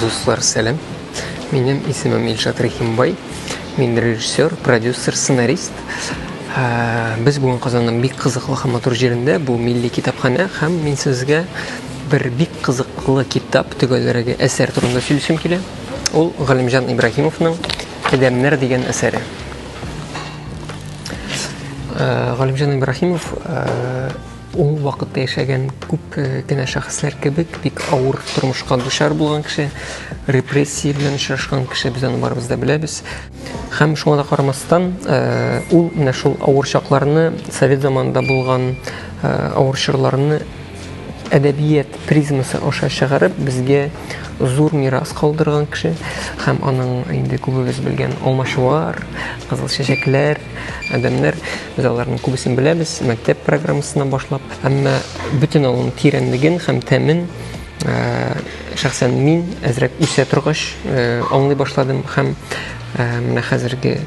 Дуслар, сәлем. Минем исемем Илшат Рахимбай. Мин режиссер, продюсер, сценарист. Ә, без бүгін Казанның бик кызыклы һәм матур җирендә, бу милли китапханә һәм мин сезгә бер бик кызыклы китап төгәлрәге әсәр турында сөйлисем килә. Ул Галимҗан Ибраһимовның Адәмнәр дигән әсәре. Э, Галимҗан Ибрахимов э, ул вакытта яшәгән күп э, кенә шәхесләр кебек бик авыр тормышка дучар булган кеше, репрессия белән очрашкан кеше без аны барыбыз да беләбез. Һәм шуңа да карамастан, ул менә шул авыр чакларны, совет заманында булган авыр чорларны әдәбият призмасы аша чыгарып безгә зур мирас калдырган кеше һәм аның инде күбебез белгән алмачуар, кызыл чәчәкләр, адәмнәр. Без аларның күбесен беләбез, мәктәп программасына башлап. Әмма бөтен аның тирәнлеген һәм тәмен э, шәхсән мин әзрәк үсә торгач э, аңлый башладым һәм э, менә хәзерге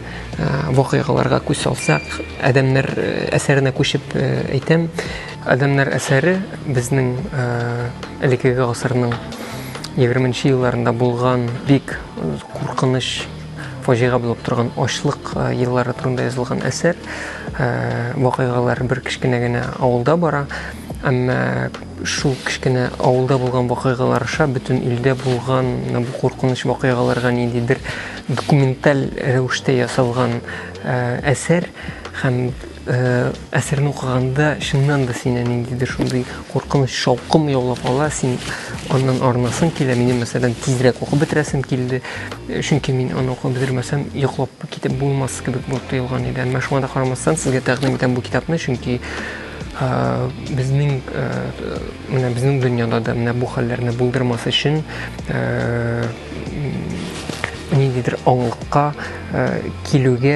вакыйгаларга күз салсак, адәмнәр әсәренә күчеп әйтәм, Адәмнәр әсәре безнең элекеге гасырның 20 нче елларында булган бик куркыныч фаҗига булып торган ачлык еллары турында язылган әсәр. Вакыйгалар бер кечкенә генә авылда бара, әмма шул кечкенә авылда булган вакыйгалар аша бөтен илдә булган бу куркыныч вакыйгаларга ниндидер документаль рәвештә ясалган әсәр һәм Әсәрне укыганда чыннан да сине ниндидер шундый куркыныч шаукым яулап ала, син аннан арынасың килә. Минем мәсәлән тизрәк укып бетерәсем килде, чөнки мин аны укып бетермәсәм, йоклап китеп булмас кебек булып тоелган иде. Әмма шуңа да карамастан сезгә тәкъдим итәм бу китапны, чөнки безнең менә безнең дөньяда да менә бу хәлләрне булдырмас өчен ниндидер аңлыкка килүгә